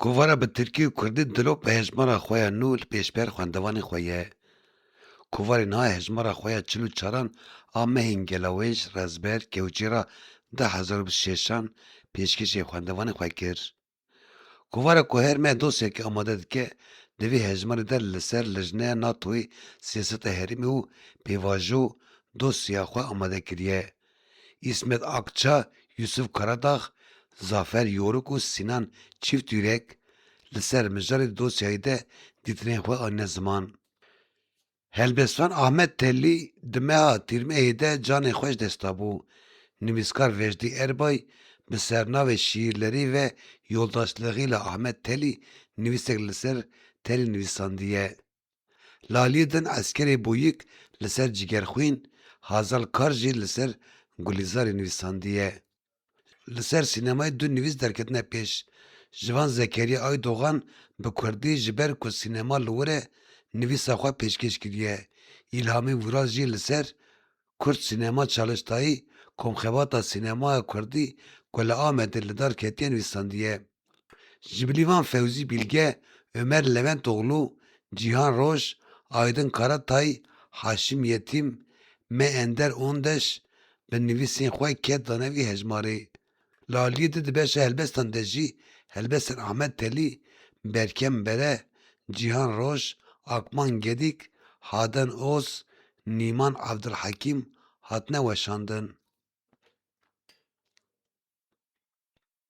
Kovara bi tirkî û kurdî dilo bi hejmara xwe ya nû li pêşber xwendevanê xwe ye. Kovarê niha hejmara xwe ya çil û çaran a mehên gelawêj, rezber, kewçî ra di hezar û bîst û şeşan pêşkêşê xwendevanê xwe kir. Kovara ku her meh dosyayekê amade dike, di vê hejmarê de li ser lijneya NATO'yê, siyaseta herêmê û pêvajo dosya xwe amade kiriye. Îsmet Akça, Yûsûf Karadax, Zafer Yorûk û Sînan Çîftîrek li ser mijarê dosyayê de dîtinên xwe anîne ziman. Helbestvan Ahmet Tellî di meha tîrmeyê de canê xwe ji dest dabû. Nivîskar Vejdî Erbay bi sernavê Şîîrlerî ve yoldaşlığî la Ahmet Tellî nivîsek li ser Tellî nivîsandiye. Lalî din eskerê Bûyik li ser Cîgerxwîn, Hazal Kar jî li ser Gulîzarê nivîsandiye. Li ser sînemayê du nivîs derketine pêş. Ji van Zekeriya Aydogan bi kurdî ji ber ku sînema li wir e nivîsa xwe pêşkêş kiriye. Îlhamî Vûral jî li ser Kurd Sînema Çaliştayî komxebata sînemaya kurdî ku li Amedê li dar ketiye nivîsandiye. Ji bilî wan Fewzî Bîlge, Omer Leventoglû, Cîhan Roj, Aydin Karatay, Haşim Yetîm, Me Ender Ondeş bi nivîsên xwe ket dane vî hejmarê. Li aliyê din di beşa helbestan de jî helbestên Ahmet Telî, Berkem Bere, Cîhan Roj, Akman Gedîk, Haden Oz, Nîman Evdilhekîm hatine weşandin.